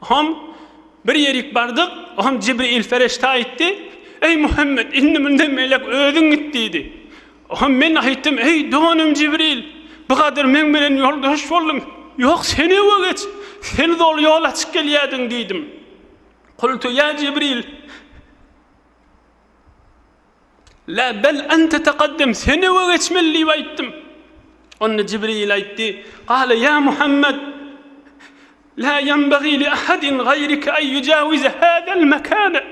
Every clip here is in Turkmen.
Hom, bir ýerik bardyk, hom Jibril ferişde aýtdy, Eý, Muhammet, indi munda melek özüň git diýdi. Hom men aýtdym, Eý, doganym Jibril, bigadyr meň bilen ýoldaş bolduň, ýok, sen öňe geç, sen doly ýol açyp gelýärdiň diýdim. Kultu ýa Jibril! La bel ente teqaddem, sen öňe geçmeli diýip aýtdym. Onda Jibril aýtdy, Gale ýa Muhammed, La ýenbegi li ahadin gaýrike en ýujawize hadal mekane,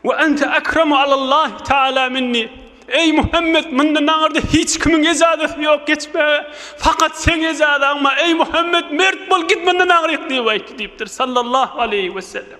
we ente ekremu alallahi taala minni, Eý Muhammed, mundan aňyrda hiç kimiň ejazasy ýok geçmäge, fakat seň ejazaň bar, eý Muhammed, mert bol, git mundan aňryk diýip aýtdy diýipdir, sallallahu aleýhi wesellem.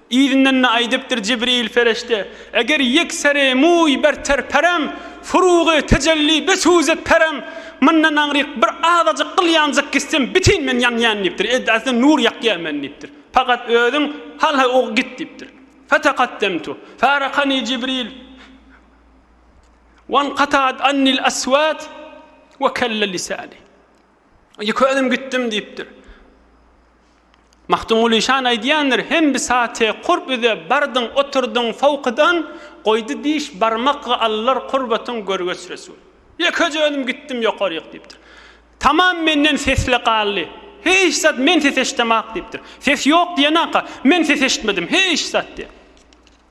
Yzyndan-da aýdypdyr Jibril perişde, Eger ýekserä muý berter perem, furugy tejelli besuzet perem, Mundan aňryk bir azajyk gyl ýanjak gitsem, bitin men ýanýan diýipdir, edasy nur ýakýan men diýipdir. Pakat özüň hal-ha ugy git diýipdir. Fetakaddemtu, farakani Jibril, wankataat annil aswat we kelle lisani. Ýeke özüm gitdim diýipdir. Magtymguly şan aýdýandyr, Hem bisaty kurb üze bardyň, oturdyň sowkadan, Goýdy diş barmak allar kurbatyň görgeç resul. Ýekeje özüm gitdim ýokaryk diýipdir. Tamam menden sesli galdy. Hiç zat men ses eşdemak diýipdir. Ses ýok diýenaka, men ses eşitmedim, hiç zat diýen.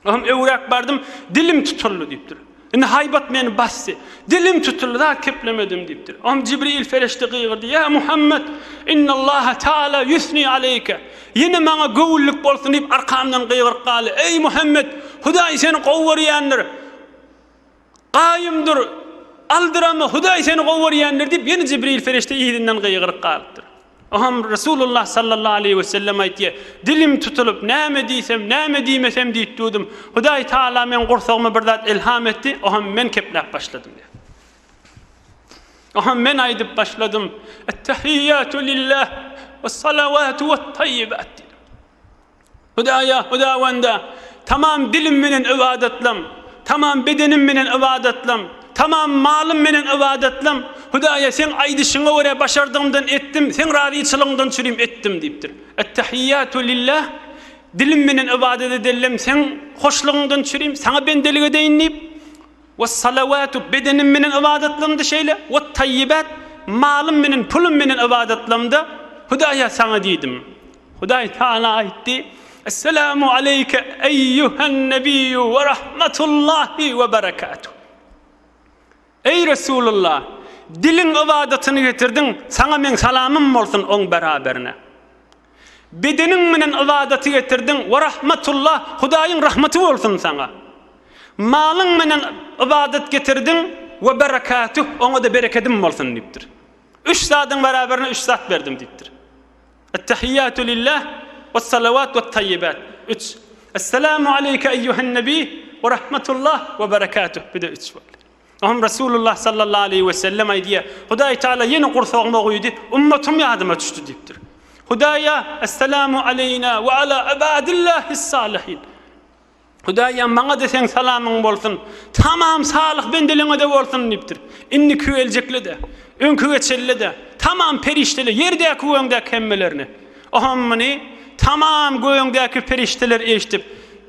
Özüm öwräp bardym, dilim tutuldy diýipdir. Indi haýbat meni basdy. Dilim tutuldy, zat keplemedim diýipdir. Özüm Jibril perişde gygyrdy, Ýa Muhammet, innallaha taala ýusni aleýke. Ýene maňa göwünlik bolsun diýip arkamdan gygyryp galdy, Eý Muhammet, Hudaý seni gowy görýändir. Gaýym dur! Aldyranma, Hudaý seni gowarýandyr diýip, ýene Jibril perişde yzyndan gygyryp galypdyr. Oňam Resulullah sallallahu aleýhi wesellem aýtýar, Dilim tutulyp, näme diýsem, näme diýmesem diýip durdum. Hudaý tagala meň gursagyma bir zat ilham etdi, oňam men kepläp başladym diýýär. Oňam men aýdyp başladym, Ettehiýýatu lilläh, wessalawatu wet-taýýibat diýdim. Hudaýa, Hudawanda, tamam dilim menen ybadatlam, tamam bedenim menen ybadatlam, tamam malym menen ybadatlam, Hudaýa, Seň aýdyşyňa görä başardygymdan etdim, Seň razyçylygyňdan çürim etdim diýipdir. Ettehiýatu lillah, dilim menen ybadat edellem Seň hoşlugyňdan çürim, Saňa bendelik edeýin diýip, Wes-salawatu, bedenim meniň ybadatlarymda şeýle, wat-taýýibat, malym meniň, pulum meniň ybadatlarymda, Hudaýa saňa diýdim. Hudaý Tagala aýtdy, Esselamu aleýke eýýuhen-nebiyyu we rahmatullahi we berekatuh. Eý Resulullah, diliň ybadatyny getirdiň, saňa meň salamym bolsun oň beraberine. Bedeniň menen ybadaty getirdiň, we rahmetullah, Hudaýyň rahmeti bolsun saňa. Malyň menen ybadat getirdiň, we berekatuh, oňa-da berekedim bolsun diýipdir. Üç zadyň beraberine üç zat berdim diýipdir. Ettehiýatu lillah, wessalawat wettayyibat, üç. Esselamu aleyke eýýuhen nebiy, we rahmetullah, we berekatuh, bir-de üç boldy. Oňa Resulullah sallallahu aleýhi we sellem aýdýar, Hudaý Taala ýene gursagyma guýdy, ummatym ýadyma düşdi diýipdir. Hudaýa, Esselamu aleýna we ala ibadillahis-salihin. Hudaýam maňa-da seň salamyň bolsun, tamam salyh bendeleňe-de bolsun diýipdir. Indiki geljekle-de, öňki geçenle-de, tamam perişdele, ýerdäki we öňdäki hemmelerine. Oňa muny tamam gögüňdäki perişdeler eşidip,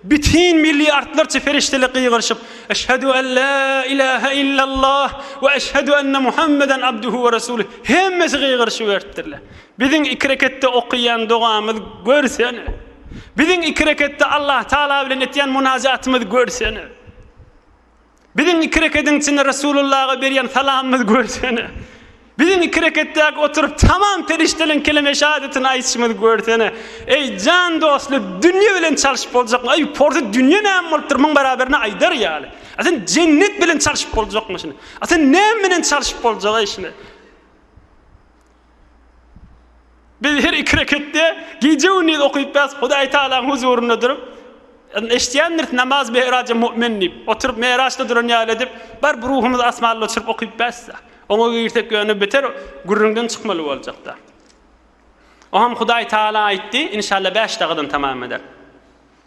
bütin milliardlarça perişdeli gygyryşyp, Eşhedü en la ilahe illallah we eşhedü enne Muhammeden abduhu we rasulü hemmesi gygyryşyberipdirler. Biziň iki reketde okaýan dogamyz görsene! Biziň iki reketde Allahtagala bilen etýän munajatymyz görsene! Biziň iki rekediň içinde Resulullaga berýän salamymyzy görsene. Biziň iki reketdäki oturyp tamam perişdeleň keleme-i şahadatini aýytşymyzy görsene. Eý, jan dostly, dünýe bilen çalşyp boljakmy? Eý, porsy dünýe näme bolupdyr muň baraberine aýdar ýaly? A sen jennet bilen çalşyp boljakmy şuny? A sen näme bilen çalşyp boljak eý şuny? Biz her iki reketde gije-gündiz okypbas Hudaý Tagalaň huzurynda durup, eşidýändiris namaz meýraja mu'min diýip, oturyp meýraçda duran ýaly edip, barp ruhumyzy asmana uçuryp okypbas-da. Oňa girsek ýöne beter gürrüňden çykmaly boljak-da. Oňam Hudaý Tagala aýtdy, inşalla bäş dagadan tamam eder.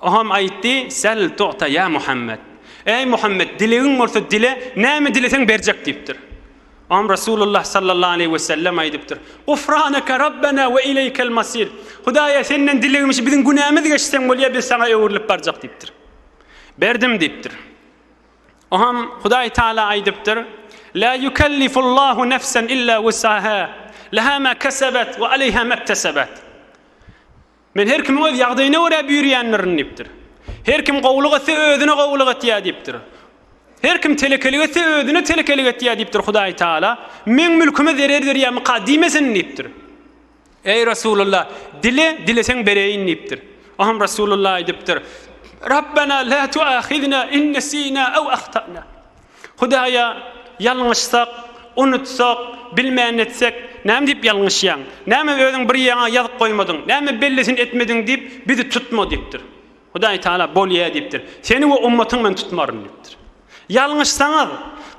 Oňam aýtdy, Sel tu'ta ýa Muhammet, Eý Muhammet, dilegiň bolsa dile, näme dileseň berjek diýipdir. Oňam Resulullah sallallahu aleýhi we sellem aýdypdyr, Gufraneke Rabbena we ileýkel masir, Hudaýa Senden dilegimiz biziň günämiz geçseň bolýar, biz Saňa öwrülip barjak diýipdir. Berdim diýipdir. Oňam Hudaý Taala aýdypdyr, La ýukellifullahu nefsen illa wusaha, leha ma kesebet we aleýha mektesebat. Men her kimiň öz ýagdaýyna görä büýürýändirin diýipdir. Her kim gowulyk etse, özüne gowulyk etýär diýipdir. Her kim telekelik etse, özüne telekelik etýär diýipdir. Hudaý Tagala, Meň mülküme zerer berýärmikä diýmesin diýipdir. Eý Resulullah, dile, dileseň bereýin diýipdir. Oňam Resulullah aýdypdyr, Rabbena la tuahizna in nesina ew ahtana. Hudaýa ýalňyşsak, unutsak, bilmän etsek, näme diýip ýalňyşýaň? Näme özüň bir ýeriňe ýazyp goýmadyň? Näme bellisini etmediň diýip, bizi tutma diýipdir. Hudaý Tagala, Bolýa diýipdir. Seni we ummatyňy men tutmaryn diýipdir. Ýalňyşsaňyz,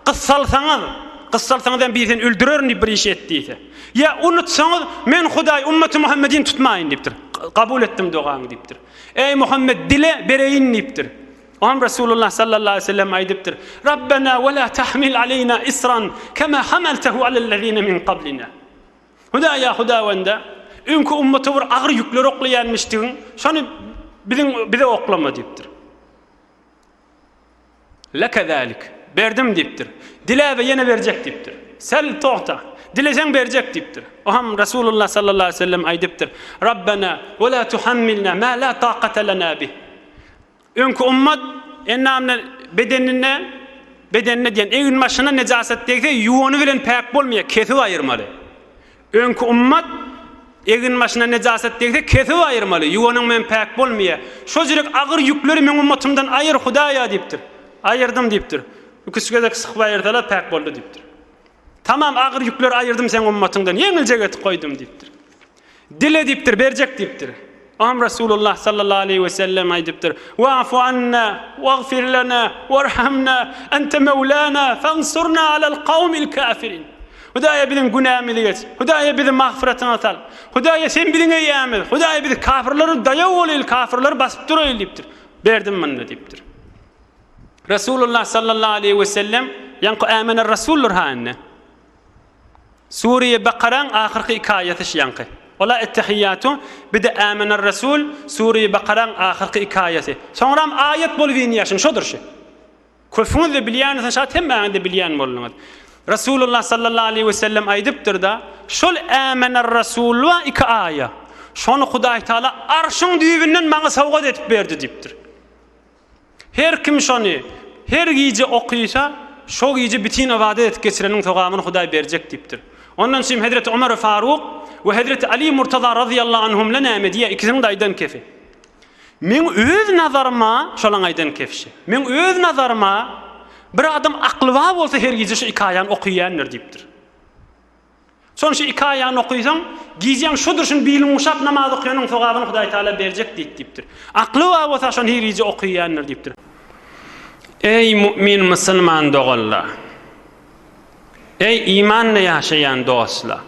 gyssalsaňyz, gyssalsaňyz hem bizi öldürerin diýip bir iş et diýse. Ýa unutsaňyz, men Hudaý ummaty Muhammedini tutmaýyn diýipdir. Kabul etdim dogaňy diýipdir. Eý Muhammet dile, bereýin diýipdir. Oňa Resulullah sallallahu aleýhi we sellem aýdypdyr, Rabbena we la tahmil aleýna isran kema hamaltahu alellezine min qablina. Hudaýa Hudawanda, öňki ummata bir agyr ýükleri oklaýanmişdigiň, şony biziň bize oklama diýipdir. Leke zalik. Berdim diýipdir. Dile we ýene berjek diýipdir. Sel togta. Dileseň berjek diýipdir. Oňa Resulullah sallallahu aleýhi we sellem aýdypdyr, Rabbena we la tuhammilna ma la taqata lana bih. Öňki ümmet enamne bedenine, bedenine diýen eginbaşyna nejaset degse ýuwany bilen päk bolmaýar, kesip aýyrmaly. Öňki ümmet eginbaşyna nejaset degse kesip aýyrmaly, ýuwanyň bilen päk bolmaýar. Şo jürek agyr ýükleri meň ümmetymdan aýyr Hudaýa diýipdir. Aýyrdym diýipdir. Ikisi gezek sykyp aýyrsalar päk boldy diýipdir. Tamam agyr ýükleri aýyrdym seň ümmetyňdan, ýeňiljek etip goýdum diýipdir. Dile diýipdir, berjek diýipdir. Oňam Resulullah sallallahu aleýhi we sellem aýdypdyr, Wa'fu anna, wagfir lana, warhamna, ente mewlana, fansurna alal kawmil kafirin. Hudaýa biziň günämizi geç, Hudaýa bizi magfyratyňa sal, Hudaýa sen biziň eýämiz, Hudaýa bizi kafirlere daýaw bolaýyl, kafirleri basyp duraýyl diýipdir. Berdim munda diýipdir. Resulullah sallallahu aleýhi we sellem ýaňky ämene rasuldyr ha indi. Sure-i Bakaraň ahyrky iki aýaty şu ýaňky. Ola Ettehiýatu, bir-de Âmener-Resûl, Sure-i Bakaraň ahyrky iki aýaty. Soňram aýat bolup inýär şuň, şodur şu. Köpüňiz-de bilýäňiz, şat hemmäňiz-de bilýän bolduňyz. Resulullah sallallahu aleýhi we sellem aýdypdyr-da, Şol Âmener-Resûl bar iki aýa, şony Hudaýtagala Arşyň düýbünden maňa sowgat edip berdi diýipdir. Her kim şony her gije okysa, şo gije bitin ybadat edip geçireniň sogabyn Hudaý berjek diýipdir. Ondan çyn hezreti Omeri Faruk we hezreti Ali Murtaza razyýallahu anhumle näme diýýä ikisiniň-de aýdan kefi. Meň öz nazaryma, şolaň aýdan kefşi, meň öz nazaryma bir adam akly bar bolsa her gije şu iki aýany okyýändir diýipdir. Soň şu iki aýagyny okysaň, gijäň şu durşun bilin guşap namaz okýanyň sogabyny Hudaý Tagala berjek diýip diýipdir. Akly bar bolsa şony hirije okyýandyr diýipdir. Eý mu'min musulman doganlar! Eý imanly ýaşaýan dostlar!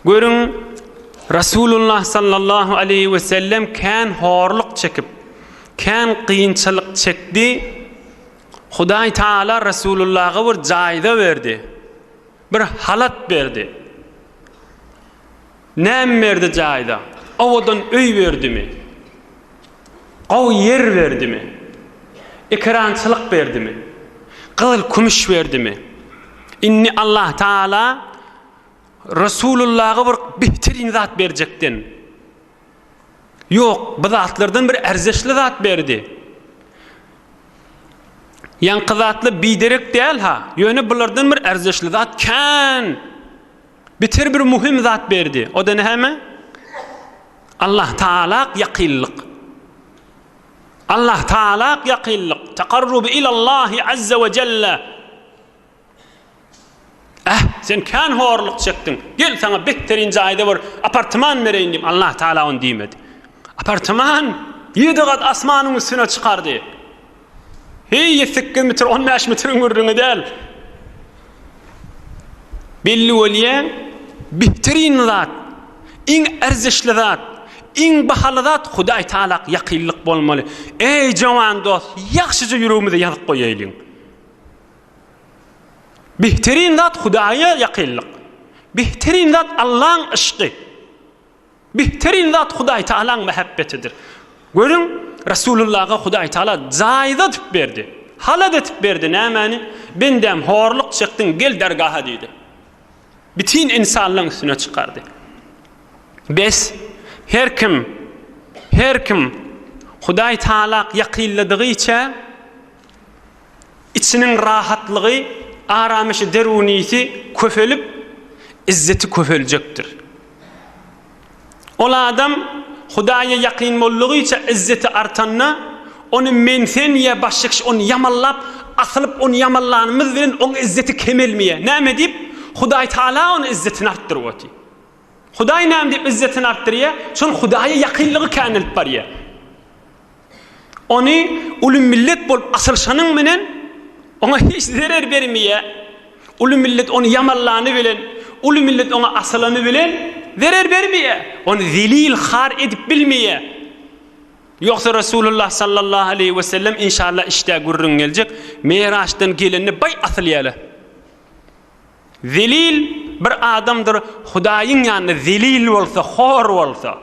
Görüň Resulullah sallallahu aleýhi we sellem kän horluk çekip, kän kynçylyk çekdi, Hudaý Taala Resulullaha bir jaýda berdi, bir halat berdi. Näme berdi jaýda? Owadan öý berdimi? Gowy ýer berdimi? Ekerançylyk berdimi? Gyzyl-kümüş berdimi? Indi Allah Taala Resulullaha bir bihtirin zat berjekden. Ýok, bu zatlardan bir erzeşli zat berdi. Ýaňky zatlar biderek däl-ha, ýöne bulardan bir erzeşli zat kän, beter bir möhüm zat berdi. O-da näme? Allah Tagala ýakynlyk. Allah Tagala ýakynlyk, takarrub ilallahi azza we jelle. Äh, sen kän horluk çekdiň. Gel, saňa beterin jaýda bir apartaman bereýin diýip, Allah Tagala ony diýmedi. Apartaman ýedi gat asmanyň üstüne çykardy. Heý, sekiz metr, on bäş metriň gürrüňi däl. Belli bolýan beterin zat, iň erzişli zat, iň bahaly zat Hudaý Tagala ýakynlyk bolmaly. Eý, jowan dost, ýagşyja ýüregimize ýazyk goýaýlyň. Bihterin zat Hudaýa ýakynlyk. Bihterin zat Allaň yşky. Bihterin zat Hudaý Tagalaň mähebbetidir. Görüň, Resulullaga Hudaý Tagala jaýyz edip berdi. Halat edip berdi nämäni? Bendäm, horluk çekdiň, gel dergaha diýdi. Bitin insanlygyň üstüne çykardy. Bes, her kim, her kim Hudaý Tagalak ýakynladygyça, Içiniň rahatlygy, aramyşy derunisi köpelip, izzeti köpeljekdir. Ol adam Hudaýa ýakyn boldugyça izzeti artanda, ony men-sen ýa başga kişi ony ýamanlap, asylyp ony ýamanlanymyz bilen oň izzeti kemelmeýär. Näme diýip? Hudaý Taala ony izzetini artdyryp otyr. Hudaý näme diýip yzzetini artdyrýar? Şol Hudaýa ýakynlygy känelip barýar. Ony uly millet bolup açylyşanyň bilen oňa hiç zerer bermeýär. Uly millet ony ýamanlany bilen, uly millet oňa asylany bilen zerer bermeýär. Ony zelil, har edip bilmeýär. Ýogsa Resulullah sallallahu aleýhi we sellem inşallah işdä gürrüň geljek, Meraçdan gelende baý asylýarlar. Zelil bir adamdyr Hudaýyň ýanynda zelil bolsa, hor bolsa.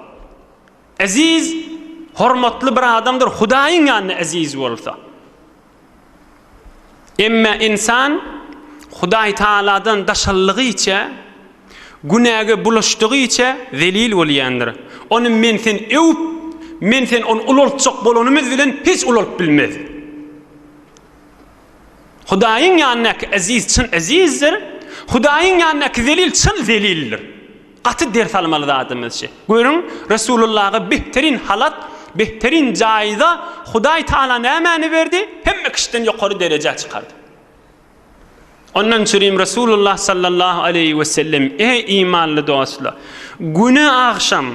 Eziz, hormatly bir adamdyr Hudaýyň ýanynda eziz bolsa. Emma ynsan Hudaý Tagaladan daşaldygyça, günäge bulaşdygyça zelil bolýandyr. Ony men-sen öwüp, men-sen ony ulaltjak bolanymyz bilen hiç ulalyp bilmez. Hudaýyň ýanyndaky eziz çyn ezizdir, Hudaýyň ýanyndaky zelil çyn zelildir. Gaty ders almaly zadymyz şi. Görüň, Resulullaha behterin halat, behterin jaýda Hudaý Tagala nämäni berdi? Hemme kişiden ýokary derejä çykardy. Ondan çürim Resulullah sallallahu aleýhi we sellem, Eý imanly dostlar, güne agşam,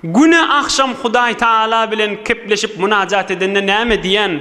güne agşam Hudaý Tagala bilen kepleşip munajat edende näme diýen?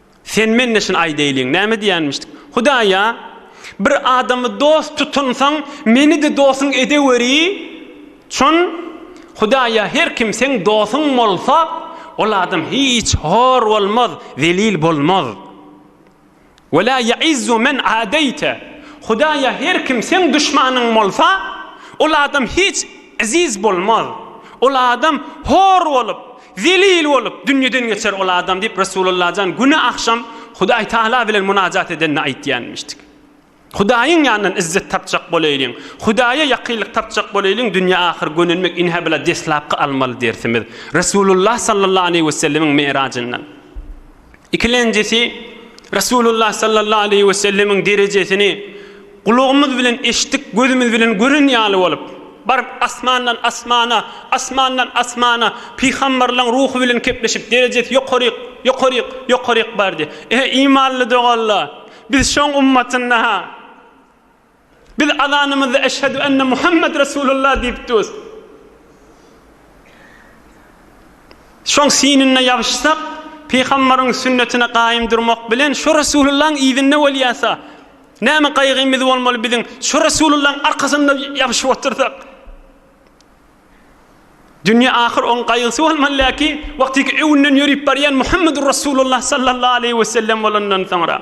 Sen men-de şuny aýdaýlyň, näme diýýänmişdik? Hudaý-a, Bir adamy dost tutunsoň, meni-de dosuň edeweri! Çün, Hudaý-a, her kim seň dosuň bolsa, ol adam hiç hor bolmaz, zelil bolmaz. Wela ýaizzu men adaýte, Hudaý-a, her kim seň duşmanyň bolsa, ol adam hiç eziz bolmaz, ol adam hor bolup, Zelil bolup, dünýeden geçer ol adam diýip, Resulalla jan güne agşam Hudaý Tagala bilen munajat edende aýtýanmyşdy. Hudaýyň ýanyndan izzet tapjak bolaýlyň, Hudaýa ýakynlyk tapjak bolaýlyň, dünýe-ahyr gönenmek ine-hä bula deslapky almaly dersimiz. Resulullah sallallahu aleýhi wesellemiň Merajyndan. Ikilenjisi, Resulullah sallallahu aleýhi we sellemiň derejesini gulagymyz bilen eşitdik, gözümiz bilen gören ýaly bolup, baryp asmandan asmana, asmandan asmana pygamberleň ruhy bilen kepleşip, derejesi ýokaryk, ýokaryk, ýokaryk bardy. Eý, imanly doganlar! Biz şoň ummatynda-ha! Biz azanymyzda Eşhedü enne Muhammed Resulullah diýip durus. Şoň synynda ýabyşsak, Pygambaryň sünnetine gaýym durmak bilen şo Resulullahyň yzynda bolýasa, näme gaýgymyz bolmaly biziň şo Resulullahyň arkasynda ýabyşyp otursak. Dünýe ahyr oň gaýgysy bolmaly läki, wagty ki öwünden ýörüp barýan Muhammedur Resulullah sallallahu aleýhi we sellem bolandan soňra.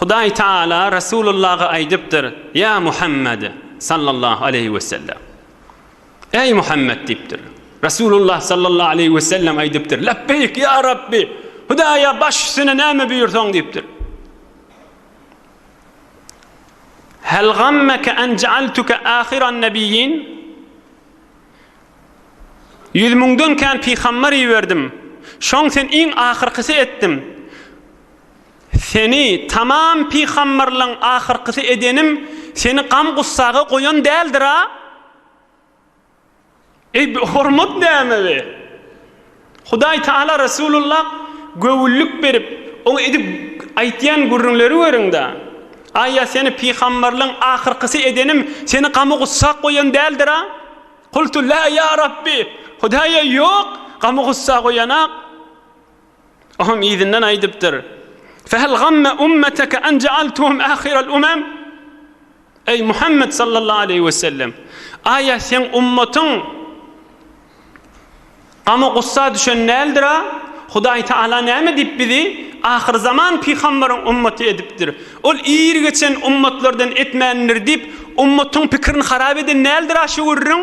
Hudaý Tagala Resulullaha aýdypdyr, Ýa Muhammed, sallallahu aleýhi we sellem! Eý, Muhammed! diýipdir. Resulullah, sallallahu aleýhi we sellem, aýdypdyr, Lebbeýk, ýa Rabbi! Hudaýa baş üstüne näme buýursaň, diýipdir. Hel gammeke en ja'altuke ahiran nebiyyin? Ýüz müňden kän pygamber iberdim. Şoň sen iň ahyrkysy etdim. Seni tamam pygamberleň ahyrkysy edenim seni gam-gussaga goýan däldir-a? Eý, bu hormat näme we? Hudaý Tagala Resulullah göwünlik berip, oňa edip aýtýan gürrüňleri görüň-dä. Aý, ýa seni pygamberleň ahyrkysy edenim seni gam-gussa goýan däldir-a? Kultu, Lä, ýa Rabbi! Hudaý-a, ýok, gam-gussa goýanak. Oňam yzyndan aýdypdyr, Fehel gamme ummeteke en jealtuhum ahirel umem? Eý, Muhammet sallallahu aleýhi we sellem! Aýa seň ummatyň gama-gussa düşen däldir-a? Hudaý Tagala näme diýip bizi ahyrzaman pygambaryň ummaty edipdir? Ol ir geçen ummatlardan etmändir diýip, ummatyň pikirini harap eden däldir-a şu gürrüň?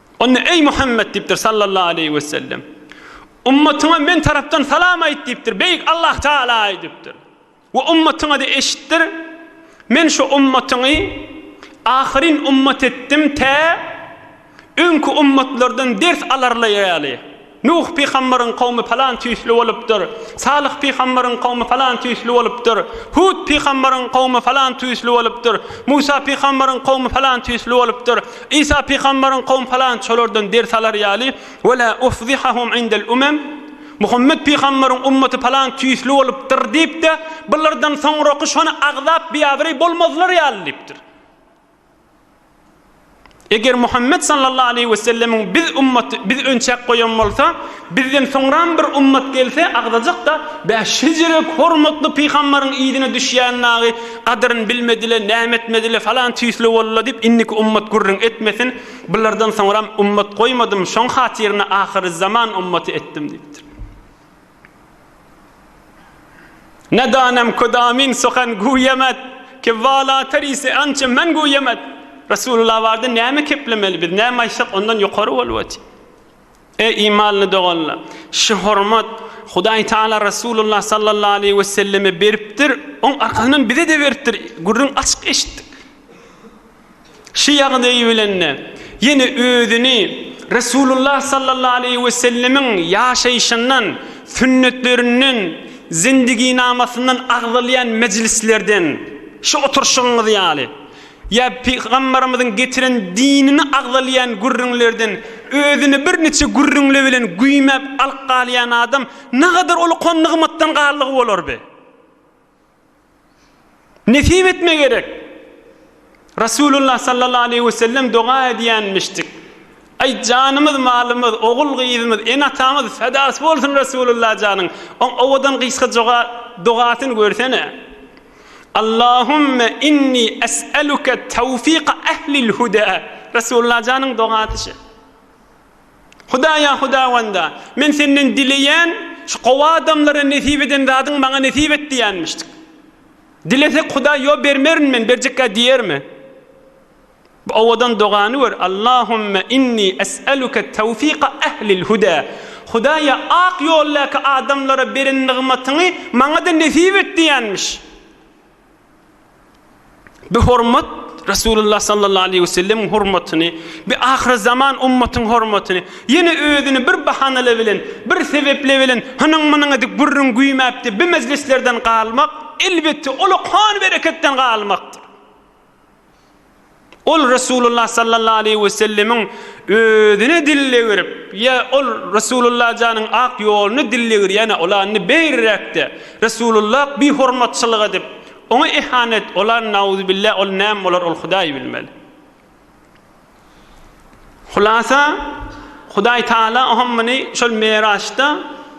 Onda, Eý, Muhammet! diýipdir, sallallahu aleýhi wesellem. Ummatyňa men tarapdan salam aýt diýipdir, Beýik Allah Tagala aýdypdyr. We ummatyňa-da eşitdir, Men şu ummatyňy ahyryn ummat etdim tä öňki ummatlardan ders alarlaýaly. Nuh pygambaryň kowmy falan tüýsli bolupdyr, Salyh pygambaryň kowmy falan tüýsli bolupdyr, Hud pygambaryň kowmy falan tüýsli bolupdyr, Musa pygambaryň kowmy falan tüýsli bolupdyr, Isa pygambaryň kowmy falan şolardan ders alar ýaly, Ve la ufzihahum indel umem, Muhammet pygambaryň ummaty falan tüýsli bolupdyr diýip-de, bulardan soňraky şony agzap biabraý bolmazlar ýaly diýipdir. Eger Muhammet sallallahu aleýhi we sellemiň biz ummaty biz önçäk goýan bolsa, bizden soňram bir ummat gelse agzajakda, bä şejirek hormatly pygambaryň yzyna düşýän dagy gadyryn bilmedile, näme etmedile falan tüýsli boldyla diýip indiki ummat gürrüň etmesin, bulardan soňram ummat goýmadym şoň hatyryna ahyryzzaman ummaty etdim diýipdir. Nedanem ködamin sokan guýemet, ki wala terisi ançe men guýemet. Resulullah barda näme keplemeli biz, näme aýtsak ondan ýokary bolwat. E imanly doganlar, şu hormat Hudaý Taala Resulullah sallallahu aleýhi weselleme beripdir, oň arkasyndan bize-de beripdir, gürrüň açyk eşitdik. Şu ýagdaýy bilende, ýene özüni Resulullah sallallahu aleýhi we sellemiň ýaşaýşyndan, sünnetlerinden, zendiginamasyndan agzalýan mejlislerden, şu oturyşygyňyz ýaly, ýa Pygambarymyzyň getiren dinini agzalýan gürrüňlerden özüni bir niçe gürrüňle bilen güýmäp alyp galýan adam nagadar uly kon-nygmatdan galdygy bolarby? Nesip etme gerek. Resulullah sallallahu aleyhi ve sellem doga edýänmişdik. Ay janymyz malymyz ogul gyzymyz ene atamyz fedasy bolsun Resulullah janyň on owadan gysga joga dogasyny görsene. Allahumme inni es'eluke tawfika ehlil huda Resulullah janyň dogasy şe. Hudaýa, Hudawanda, men Senden dileýän, şu gowy adamlara nesip eden zadyň maňa nesip et diýenmişdik. Dilesek Hudaý ýo bermerin men, berjekkä diýermi? Bu owadan dogany gör, Allahümme inni es'eluke tewfika ehlil huda, Hudaýa ak ýoldaky adamlara beren nygmatyňy maňa-da nesip et diýenmiş. Bu hormat Resulullah sallallahu aleýhi we sellemiň hormatyny, bu ahyrzaman ummatyň hormatyny ýene özüni bir bahanala bilen, bir sebepli bilen hynyň-mynyň edip gürrüň güýmäpdi, bu mejlislerden galmak, elbetde, ol okan bereketden galmakdyr. Ol Resulullah sallallahu aleýhi we sellemiň özüne dillegirip, ýa ol Resulullah janyň ak ýoluny dillegirýän olany beýrräkde, Resulullah bi hormatçylyk edip, oňa ihanet olan nauzubilla ol näme bolar ol Hudaý bilmeli. Hulasa Hudaý Taala oňa muny şol Meraçda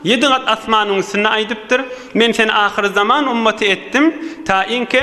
ýedi gat asmanyň üstünde aýdypdyr. Men seni ahyr zaman ummaty etdim, taýinki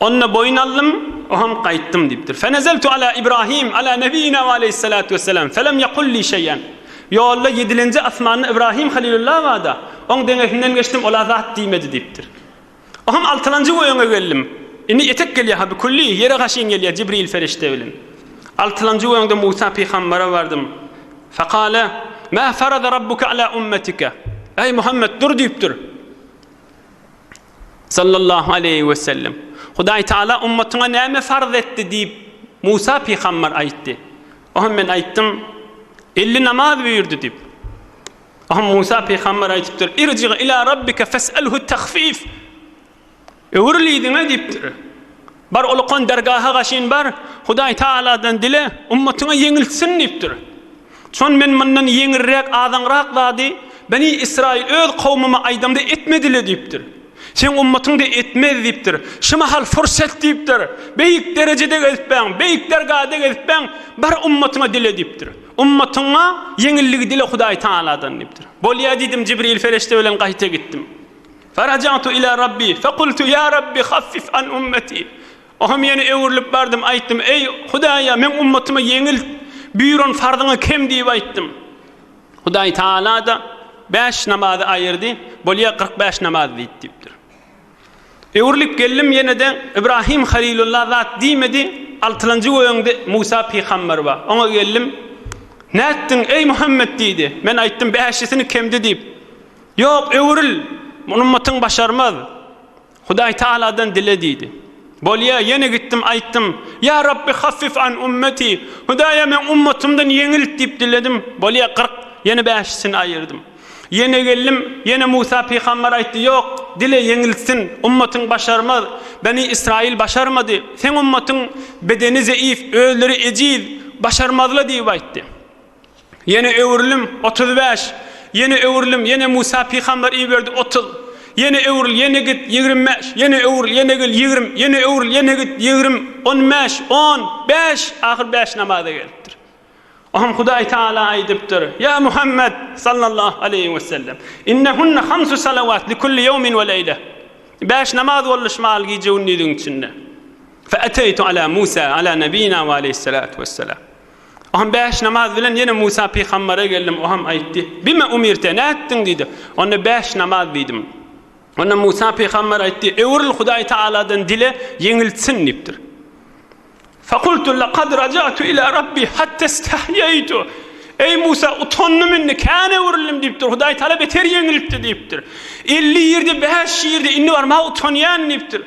Onda boýun aldym, oňam gaýtdym diýipdir. Fenezeltu ala Ibrahim ala nebiyina we aleyhissalatu vesselam felem yekul li şeýen. Ýolda ýedilenji asmanda Ibrahim Halilullaha bada, oň deňesinden geçdim, ol-a zat diýmedi diýipdir. Oňam altylanjy we öňe geldim. Indi etek gelýär-ha bi kulli, ýere gaşyn gelýär Jibril perişde bilen. Altylanjy we öňde Musa pygambara bardym. Fekale, Mä ferada Rabbuke ala ummetike. Eý Muhammet, dur diýipdir. Sallallahu aleýhi we sellem, Hudaý Taala ummatyňa näme farz etdi? diýip, Musa pygamber aýtdy. Ohem men aýtdym, Elli namaz buýurdy diýip. Ohem Musa pygamber aýdypdyr, Irji ilâ Rabbike fes'elhu tahfif. Öwrül yzyňa diýipdir. Bar ulukan dergaha gaşyn bar, Hudaý Tagaladan dile, ummatyňa ýeňiltsin diýipdir. Şon men mundan ýeňilräk, azaňrak zady Beni Ysraýyl öz kowmuma aýdamda etmedi-le diýipdir. Seň ummatyň-da etmez diýipdir. Şu mahal pursat diýipdir. Beýik derejede gezipbäň, beýik dergada gezipbäň, bar ummatyňa dile diýipdir. Ummatyňa ýeňilligi dile Hudaý Tagaladan diýipdir. Bolýa diýdim, Jibril perişde bilen gaýta gitdim. Faraja'tu ila Rabbi fekultu ya Rabbi haffif an ummeti. Ohm ýene öwrülip bardym, aýtdym, Eý, Hudaýa, meň ummatyma ýeňilt, buýran farzyňy kem diýip aýtdym. Hudaý Tagala-da bäş namazy aýyrdy, bolýa kyrk bäş namaz diýip diýipdir. Öwrülip geldim ýene-de, Ybrahim Halilulla zat diýmedi, altylanjy göýäňde Musa pygamber bar. Oňa geldim, Nätdiň, eý Muhammet diýdi. Men aýtdym, Bäşisini kemdi diýip. Ýok, öwrül, muny ummatyň başarmaz. Hudaý Tagaladan dile diýdi. Bolýa, ýene gitdim, aýtdym, Ýa Rabbi haffif an ummeti, Hudaýa meň ummatymdan ýeňilt diýip diledim, bolýa, kyrk, ýene bäşisini aýyrdym. Ýene geldim, ýene Musa pygamber aýtdy, Ýok, dile, ýeňiltsin, ummatyň başarmaz. Beni Ysraýyl başarmady. Seň ummatyň bedeni zeýif, özleri ejiz, başarmazla diýip aýtdy. Ýene öwrülim, otuz bäş. Ýene öwrülim, ýene Musa pygamber iberdi, otuz. Ýene öwrül, ýene git, ýigrimi bäş. Ýene öwrül, ýene gel, ýigrimi. Ýene öwrül, ýene git, ýigrimi. On bäş, on, bäş, ahyr bäş namaza gelipdir. Oňa Hudaý Tagala aýdypdyr, Ýa Muhammet, sallallahu aleýhi we sellem, Innehunne hamsu salawat li kulli ýewmin we leýle. Bäş namaz boluşmaly gije-gündiziň içinde. Fe eteýtu ala Musa, ala nebiyina we aleyhissalatu vesselam. Oňa bäş namaz bilen ýene Musa pygambere geldim. Oňam aýtdy. Bime umirte, ne etdiň diýdi. Onda bäş namaz diýdim. Onda Musa pygamber aýtdy. Öwrül Hudaý Taaladan dile, ýeňiltsin diýipdir. Fakultu laqad rajatu ila rabbi hatta istahyaytu. Eý Musa utandym indi kän öwrüldim diýipdir. Hudaý Taala beter ýeňiltdi diýipdir. 50 ýerde 5 ýerde indi barma utanýan diýipdir.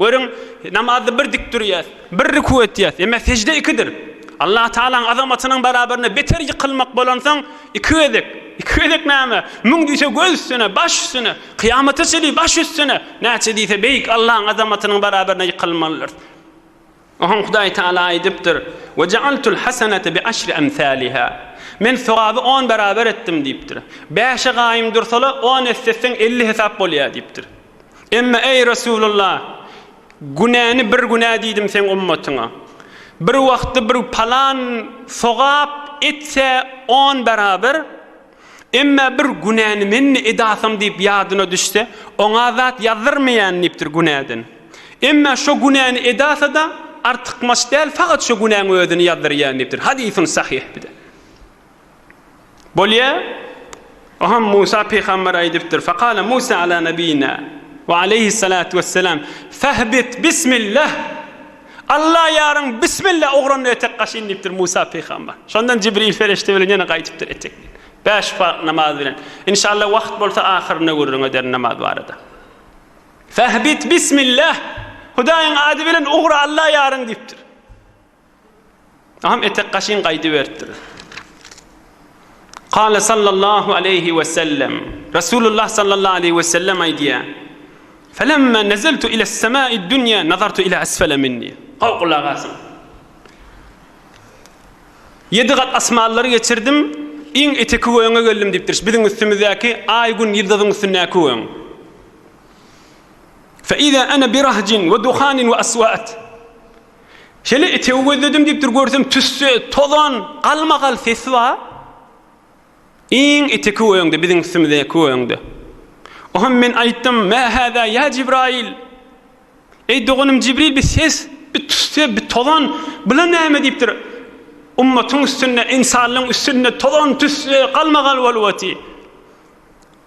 Görüň, namazda bir dik durýas, bir rükü etýäs, emme sejde ikidir. Allah Tagalaň azamatynyň barabaryna beter ýykylmak bolansoň, iki gezek, iki gezek näme, müň diýse göz üstüne, baş üstüne, kyýamata çenli baş üstüne, näçe diýse beýik Allaň azamatynyň barabaryna ýykylmalydyrys. Oňa Hudaý Tagala aýdypdyr, Ve jaaltul hasenete bi aşri emsaliha, Men sogaby on beraber etdim diýipdir. Bäşe gaýym dursala on esse etseň elli hesap bolýar diýipdir. Emma, eý Resulullah, günäni bir günä diýdim seň ummatyňa. Bir wagtda bir palan sogap etse on beraber, Emma bir günäni men-mi edasym diýip ýadyna düşse, oňa zat ýazdyrmaýan diýipdir günäden. Emma şo günäni edasa-da, artykmaç däl, fakat şo günäň özüni ýazdyrýan diýipdir. Hadysun sahyh bir de. Bolýa? Oham Musa pygamber aýdypdyr. Fakale Musa ala nebiyina ve aleyhissalatu vesselam fehbit bismillah. Alla ýaryň, Bismilla, ogranda etek gaşyn diýipdir Musa pygamber. Şondan Jibril perişde bilen ýene gaýdypdyr etek bilen. Bäş farz namaz bilen. Inşalla wagt bolsa ahyrynda gürrüň ederin namaz barada. Fahbit Bismilla, Hudaýyň ady bilen ugra Alla ýaryň diýipdir. Agam etek gaşyň gaýdyberipdir. Kale sallallahu aleýhi we sellem, Resulullah sallallahu aleýhi we sellem aýdýar, Felemma nezeltu iles semai'd dunýa nazartu ila esfele minni. Gowy gulak asyň. Ýedi gat asmanlary geçirdim, iň eteki gögöňe geldim diýipdir. Biziň üstümizdäki aý, gün, ýyldyzyň üstündäki gögöň. Fe iza ana bi rahjin we duhanin we aswat. Şeýle itewi gözledim diýipdir, görsem tüsse, tozan, galmagal sesi bar. Iň iti köwegiňde, biziň üstümize köwegiňde. Oham men aýtdym, Mä häzä ýa Jibraýyl? Eý doganym Jibril bir ses, bir tüsse, bir tozan, bula näme diýipdir. Ummatyň üstünde, ynsanlaryň üstünde tozan, tüsse, galmagal bolup otyr.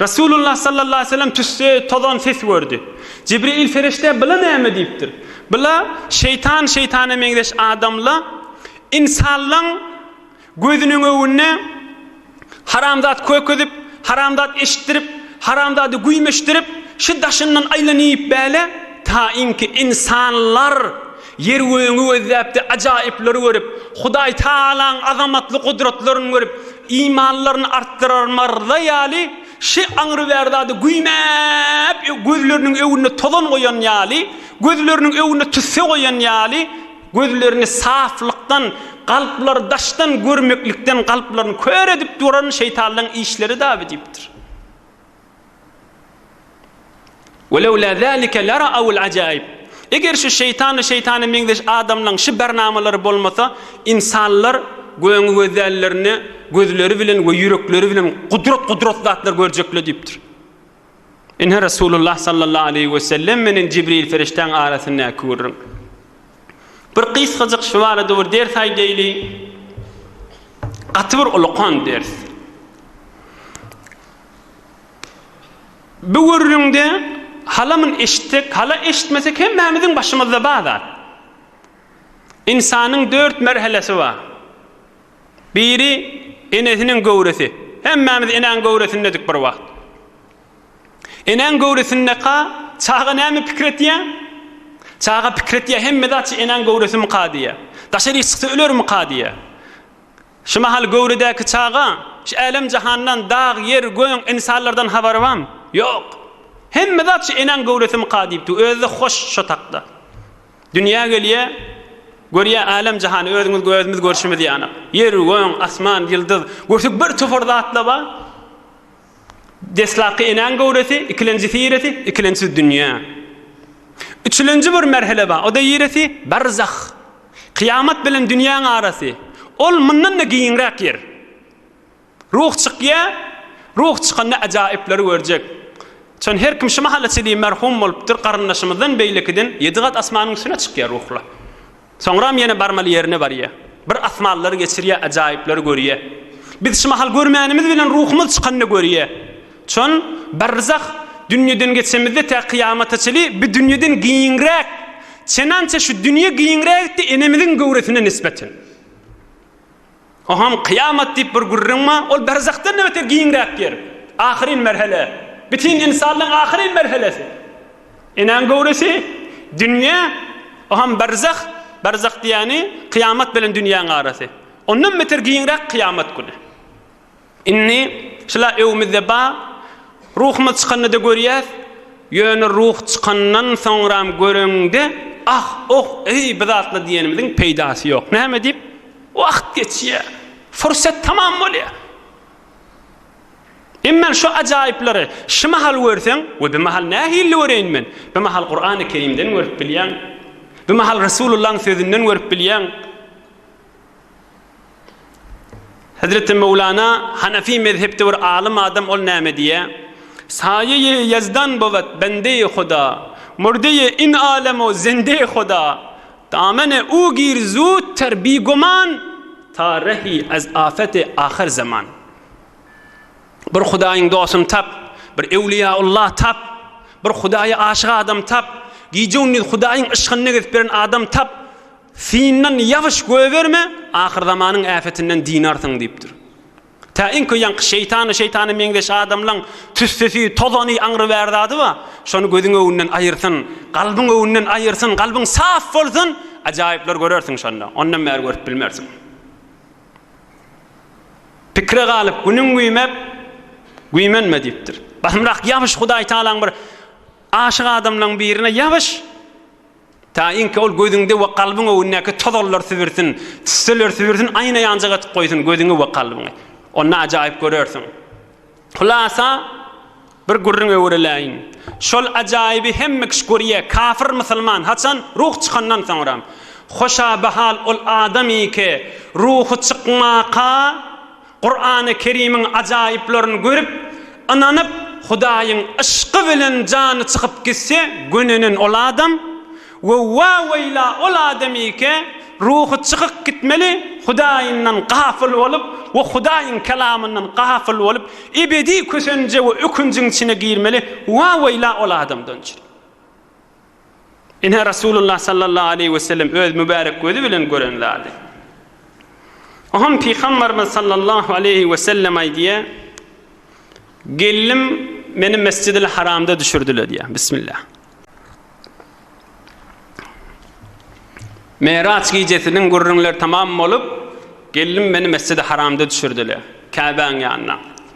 Resulullah sallallahu aleýhi we sellem tüsse tozan ses gördi. Jibril perişde byla näme diýipdir? Byla, Şeýtan şeýtana meňzeş adamla ynsanlaň gözüniň öwünde haramzat kök edip, haramzat eşitdirip, haramzady güýmeşdirip, şu daşyndan aýlanyp bäle, taýynki ynsanlar Ýer-gögüňi gözläp-de ajaýyplary görüp, Hudaý Tagalaň azamatly gudratlaryny görüp, imanlaryny artdyrar marza ýaly, şi aňryber zady güýmäp, gözleriniň öňünde tozan goýan ýaly, gözleriniň öňünde tüsse goýan ýaly, gözlerini saflykdan, kalplary daşdan görmeklikden kalplaryny kör edip duran şeýtanlaň işleri-dä bu diýipdir. Welewla zalika lara'awul ajaib. Eger şu şeýtan we şeýtana meňzeş adamlaň şu barnamalary bolmasa, ynsanlar göni gözällerini gözleri bilen we ýürekleri bilen gudrat gudrat zatlar görjekler diýipdir. Ine Resulullah sallallahu aleýhi we sellem menen Jibril perişdäň arasyndaky gürrüň. Bir gysgajyk şu barada bir ders aýdaýly. Gaty bir ulukan ders. Bu gürrüňde halamyn eşitsek, hala eşitmesek hemmämiziň başymyzda bar zat. Ynsanyň dört merhelesi bar. Biri enesiniň göwresi. Hemmämiz enäň göwresindedik bir wagt. Enäň göwresindeka çaga näme pikir etýär? Çaga pikir etýär, hemme zat şu enäň göwresimika diýýär. Daşaryk çyksa ölermika diýýär. Şu mahal göwredäki çaga şu älem-jahandan, dag, ýer, göň, ynsanlardan habary bam? Ýok. Hemme zat şu enäň göwresimika diýipdi, özi-de hoş şo takda. Dünýä gelýä, görýä älem-jahany, özüňiz gözümiz görşümiz ýanak. Ýer, göň, asman, ýyldyz, görsek birtopar zatla bar. Deslapky enäň göwresi, ikilenjisi ýeresi, ikilençisi dünýä. Üçülenji bir merhele bar, o-da ýeresi, barzah. Kyýamat bilen dünýäň arasy. Ol mundan-da giňräk ýer. Ruh çykýar, ruh çykanda ajaýyplary görjek. Çün her kim şu mahala çenli merhum bolupdyr, garyndaşymyzdan beýlekiden ýedi gat asmanyň üstüne çykýar ruhlar. Soňram ýene barmaly ýerine barýa. Bir asmanlary geçirýä, ajaýyplary görýä. Biz şu mahal görmänimiz bilen ruhumyz çykanda görýä. Çün, barzah dünýeden geçemizde tä kyýamata çyly bi dünýeden giňräk. Çenança şu dünýe giňräkdi enemiziň göwresine nisbeten. Oňam kyýamat diýip bir gürrüň bar, ol berzahdan-da beter giňräk ýer. Ahyryn merhele. Bütin ynsanlygyň ahyryn merhelesi. Enäň göwresi, dünýe, oňam berzah, berzah diýýäni, kyýamat bilen dünýäň arasy. Ondan beter giňräk kyýamat güni. Indi şular öwümizde bar. Ruhumyz çykanda-da görýäs. Ýöne ruh çykandan soňram göreňde, ah, oh, eý, bu zatlar diýenimiziň peýdasy ýok. Näme diýip? Wagt geçýär. Fursat tamam bolýar. Emma şu ajaýyplary şu mahal görseň, we bu mahal nähili göreýin men? Bu mahal Kurany Kerimden görüp bilýäň. Bu mahal Resulullahyň sözünden görüp bilýäň. Hezreti Möwlana Hanefi mezhepde bir alym adam ol näme diýýä? Saýe-i ýezdan bowet bende-i Huda, murde-i in alem o zende-i Huda, damene u gir zut ter bi guman, ta rehi ez afet-i ahir zaman. Bir Hudaýyň dostuny tap, bir Ewliýaullah tap, bir Hudaýa aşyk adam tap, gije-gündiz Hudaýyň yşkyny gezip ýören adam tap, Syndan ýabyş goýberme, ahyrzamanyň äpetinden dynarsyň diýipdir. Tä iň köýanky şeýtany, şeýtana meňzeş adamlaň tüssesi, tozany, aňrybär zady bar, şony gözüň öwünden aýyrsyn, galbyň öwünden aýyrsyn, galbyň saf bolsun, ajaýyplar görersiň şonda, ondan bäri görüp bilmersiň. Pikire galyp, günüň güýmep, güýmenme diýipdir. Basymrak ýabyş Hudaýtagalaň bir aşyk adamlaň birine ýabyş. Taýynki ol gözüňde we kalbyň öwündäki tozallar sübürsin, tüsseler sübürsin, aýna ýanjyk atyp goýsun gözüňi we kalbyňy. Onda ajaýyp görersiň. Hulasa, bir gürrüň öwrüläýin. Şol ajaýyby hemme kişi görýä, kafir musulman, haçan, ruh çykandan soňra. Hoşa bahal ol adam iki, ruhy çykmaka, Kurany Kerimiň ajaýyplaryny görüp, ynanyp, Hudaýyň yşky bilen jany çykyp gitse, gönenen ol adam, we wa-weýla ol adamyke, ruhy çykyk gitmeli, Hudaýyndan gafyl bolup we Hudaýyň Kelamyndan gafyl bolup, ebedi kösenje we ökünjiň içine girmeli, wa-weýla ol adamdan! Ine, Resulullah sallallahu aleýhi we sellem öz mübärek gözi bilen gören zady. Ohan Pygambarymyz sallallahu aleýhi we sellem aýdýar, Gelnim meni Mesjidil Haramda düşürdiler diýär. Bismillah. Meraç gijesiniň gürrüňler tamam bolup, gelnim meni Mesjidi Haramda düşürdiler, Käbäň ýanyna.